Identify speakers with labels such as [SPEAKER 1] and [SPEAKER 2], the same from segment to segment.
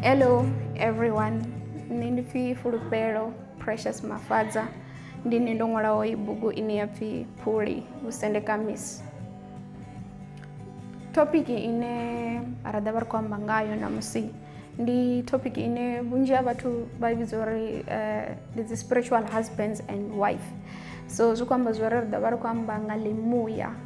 [SPEAKER 1] Hello everyone, nṋe ndi pfi Fulufhelo Precious Mafadza ndi nṋe ndo ṅwalaho i bugu ine ya pfi Phuli Vhusendekamisi. Thopiki ine ra ḓa vha ri khou amba ngayo ṋamusi ndi topic ine vhunzhi ha vhathu vha vhidza uri eh, ndi dzi spiritual husbands and wife so zwi khou amba zwori ri ḓo vha ri khou amba nga ḽimuya um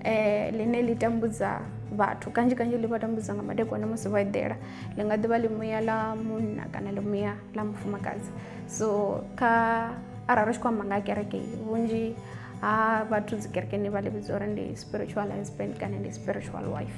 [SPEAKER 1] eh, ḽine ḽi tambudza vhathu kanzhi kanzhi ḽi vha tambudza nga madekwana musi vho eḓela ḽi nga ḓivha ḽimuya ḽa munna kana ḽimuya ḽa mufumakadzi so kha arali ri tshi khou amba nga kereke vhunzhi ha vhathu dzi kerekeni vha ḽi vhidza uri ndi spiritual husband kana ndi spiritual wife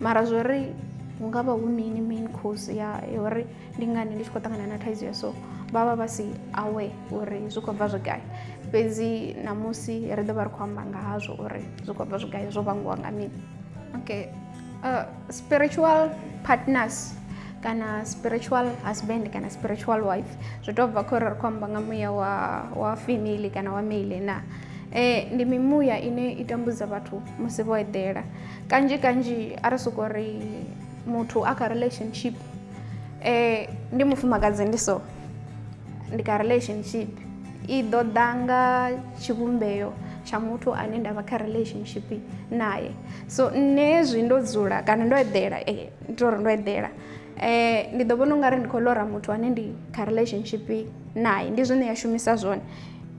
[SPEAKER 1] mara zwo ri hu nga vha hu mini main cause ya ya uri ndi ngani ndi tshi khou ṱangana na thaidzo ya so vha vha vha si aware uri zwi khou bva zwi gai fhedzi ṋamusi ri ḓo vha ri khou amba nga hazwo uri zwi khou bva zwi gai zwo vhangiwa nga mini okay uh, spiritual partners kana spiritual husband kana spiritual wife zwi tou bva khou ri ri khou amba nga muya wa wa female kana wa male na eh, ndi mimuya ine i tambudza vhathu musi vho eḓela kanzhi kanzhi a ri soko ri muthu a kha relationship um ndi mufumakadzi ndi so ndi kha relationship i ḓo ḓa nga tshivhumbeo tsha muthu ane nda vha kha relationship naye so nṋe hezwi ndo dzula kana ndo eḓela um ndi to ri ndo eḓela um ndi ḓo vhona ungari ndi khou ḽora muthu ane ndi kha relationship naye ndi zwine ya shumisa zwone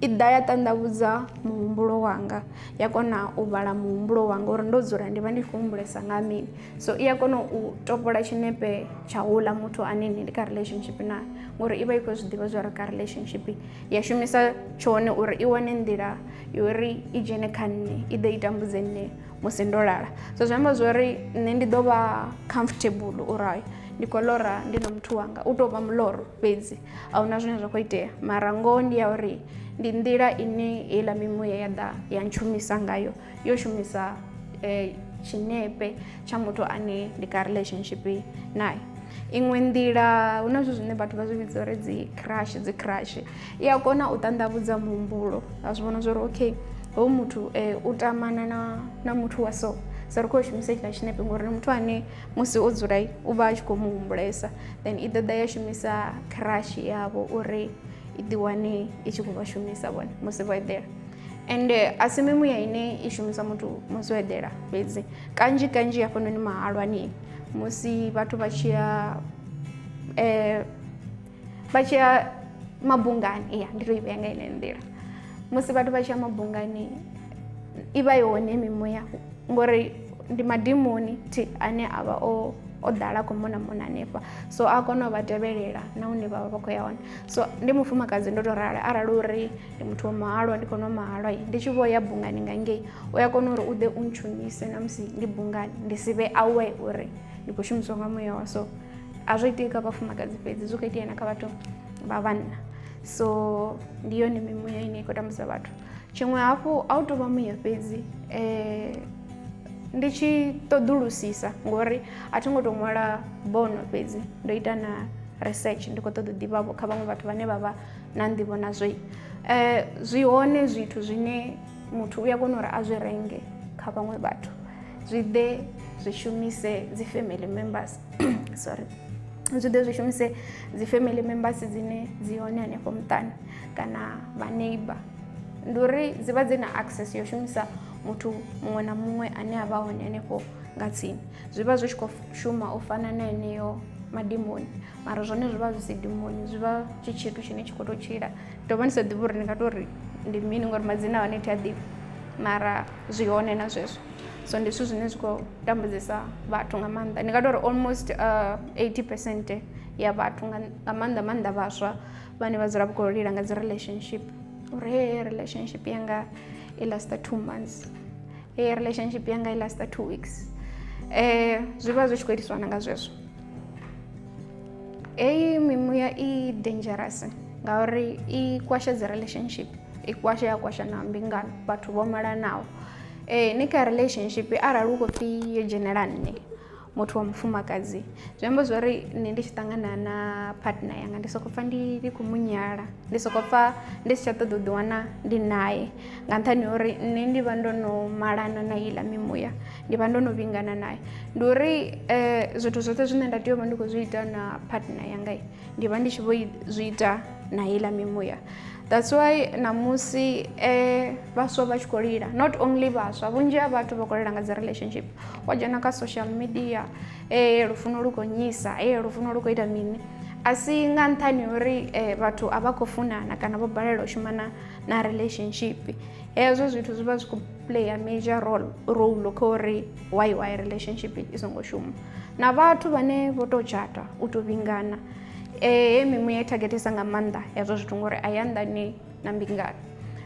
[SPEAKER 1] i ḓa ya ṱanḓavhudza muhumbulo wanga ya kona u vhala muhumbulo wanga uri ndo dzula ndi vha ndi khou humbulesa nga mini so i a kona u topola tshinepe tsha houḽa muthu ane nṋe ndi kha relationship naye ngori i vha i khou zwi ḓivha zwa uri kha relationship ya shumisa tshone uri i wane nḓila yori i dzhene kha nṋe i ḓo i tambudze nṋe musi ndo lala so zwi amba zwori nṋe ndi ḓo vha comfortable uri ndi khou lora ndi na muthu wanga u tou vha muloro fhedzi a huna zwine zwa khou itea mara ngoho ndi ya uri ndi nḓila ine heiḽa mimuya ya ḓa ya ntshumisa ngayo yo shumisa um tshinepe tsha muthu ane ndi kha relationship naye iṅwe nḓila hu na zwithu zwine vhathu vha zwi vhidza uri dzi crush dzi crush i a kona u ṱanḓavhudza muhumbulo a zwi vhona zwa uri okay hoyu muthu um u tamana na na muthu wa so so ri khou yo shumisa hetshiḽa tshinepe ngori ndi muthu ane musi o dzula u vha a tshi khou mu humbulesa then i ḓoḓa ya shumisa crush yavho uri i ḓiwane i tshi khou vha shumisa vhone musi vho eḓela ende a si mimuya ine i shumisa muthu musi o eḓela fhedzi kanzhi kanzhi hafhanoni mahalwani musi vhathu vha tshi ya um vha tshi ya mabungani ya ndi to i vhea nga ine nḓila musi vhathu vha tshi ya mabungani i vha i hone mimuya ngori ndi madimoni thi ane a vha o o ḓala khou mona mona hanefha so a kona u vha tevhelela na hune vha vha vha khou ya hone so ndi mufumakadzi ndo tou rali arali uri ndi muthu wa mahalwa ndi kona u mahalwa ndi tshi vho ya bungani nga ngei u ya kona uri u ḓe u ntshunise na musi ndi bungani ndi si vhe awe uri ndi khou shumisiwa nga muya wa so azvoitika pafumakadzi fedzi zvokaita ina kavato vavanna so ndiyo ni mimuya ine iko tambudza vhathu tshiṅwe hafhu a u to vha muya fhedzi um ndi tshi ṱoḓulusisa ngori a thi ngo tou ṅwala bono fhedzi ndo ita na research ndi khou ṱoḓa ḓivhavho kha vhaṅwe vhathu vhane vha vha na nḓivho nazwoi um eh, zwi hone zwithu zwine muthu u ya kona uri a zwi renge kha vhaṅwe vhathu zwi ḓe zwi shumise dzi family members sorry zwi ḓe zwi shumise dzi family members dzine dzi hone hanefho muṱani kana vha neighbor ndi uri dzi vha dzi na access yo shumisa muthu muṅwe na muṅwe ane a vha hone hanefho nga tsini zwi vha zwi tshi khou shuma u fana na heneyo madimoni mara zwone zwi vha zwi si dimoni zwi vha tshi tshithu tshine tshi khou tou tshila Ndo vha ndi sa ḓivhi uri ndi nga tou ri ndi mini ngori madzina a hone thi a ḓivhi mara zwi hone na zwezwo so ndi zwithu zwine zwi khou tambudza vhathu nga maanḓa ndi nga tori almost eighty percent ya vhathu nga maanḓa maanḓa vhaswa vhane vha dzula vha khou lila nga dzi relationship uri heyi relationship yanga i last two months heyi relationship yanga i last two weeks zwi vha zwi tshi khou itiswa na nga zwezwo. heyi mimuya i dangerous ngauri i kwasha dzi relationship i kwasha ya kwasha na mbingano vhathu vho malanaho eh, ni kha relationship arali u khou pfhi yo dzhenela nne muthu wa mufumakadzi zwi amba zwo ri nṋe ndi tshi ṱangana na partner yanga ndi sokou pfha ndi ndi khou munyala ndi sokou pfha ndi si tsha ṱoḓa u ḓiwana ndi naye nga nṱhani uri nṋe ndi vha ndo no malana na heiḽa mimuya ndi vha ndo no vhingana nayo ndi uri um zwithu zwoṱhe zwine nda tea u vha ndi khou zwi ita na partner yanga ndi vha ndi tshi vho zwi ita na heiḽa mimuya that's why ṋamusi um vhaswa vha tshi khou lila not only vhaswa vhunzhi ha vhathu vha khou lila nga dzi relationship wa dzhena kha social media e lufuno lu gonyisa e lufuno lu khou ita mini a si nga nṱhani uri vhathu a vha khou funana kana vho balelwa u shumana na relationship hezwo zwithu zwi vha zwi khou player major role role kha uri why why relationship i songo shuma na vhathu vhane vho tou tshata u tou vhingana eh, e mimuya i targetisa nga maanḓa hezwo zwithu ngori a ya nḓani na mbingano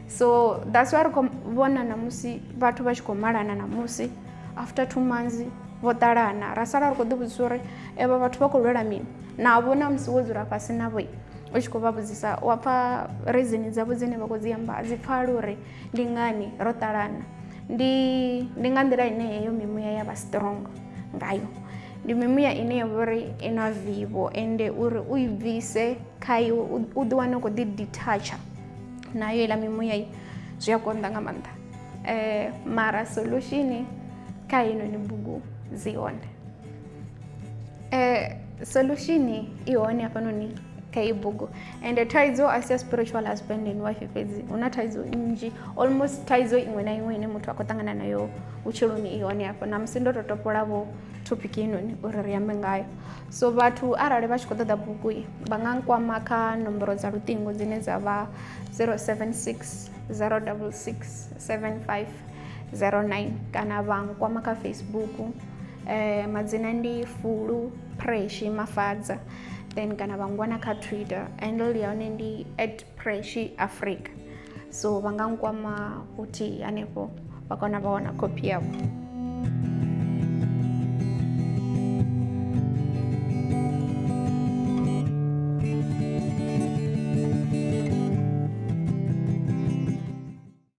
[SPEAKER 1] so that's why ri khou vhona namusi vhathu vha tshi khou malana namusi after two months vho ṱalana ra sala ri khou ḓivhudzisa uri evha vhathu vha khou lwela mini navho na musi wo dzula fhasi navho u tshi khou vha vhudzisa wa pfha reason dzavho dzine vha khou dzi amba a dzi pfhali uri ndi ngani ro ṱalana ndi ndi nga nḓila ine heyo mimuya ya vha strong ngayo ndi mimuya ine ya vhori i na vivo ende uri u i bvise kha iwe u ḓi wane u khou ḓi detacha nayo iḽa mimuya i zwi a konḓa nga maanḓa um mara solution kha heinoni bugu dzi hone eh, solution i hone hafhanoni kha iyi bugu and thaidzo a si ya spiritual husband and wife fhedzi hu na thaidzo nnzhi almost thaidzo iṅwe na iṅwe ine muthu a khou ṱangana nayo vhutshiloni i hone hafho na musi ndo to topolavho topic inoni uri ri ambe ngayo so vhathu arali vha tshi khou ṱoḓa bugu i vha nga nkwama kha nomboro dza luṱingo dzine dza vha 076 066 75 09 kana vha nkwama kha facebook eh, madzina ndi fulu preshi mafadza then kana vha ngwana kha twitter handle ya hone ndi at preshi africa so vha nga nkwama futhi hanefho vha kona vha wana khophi yavho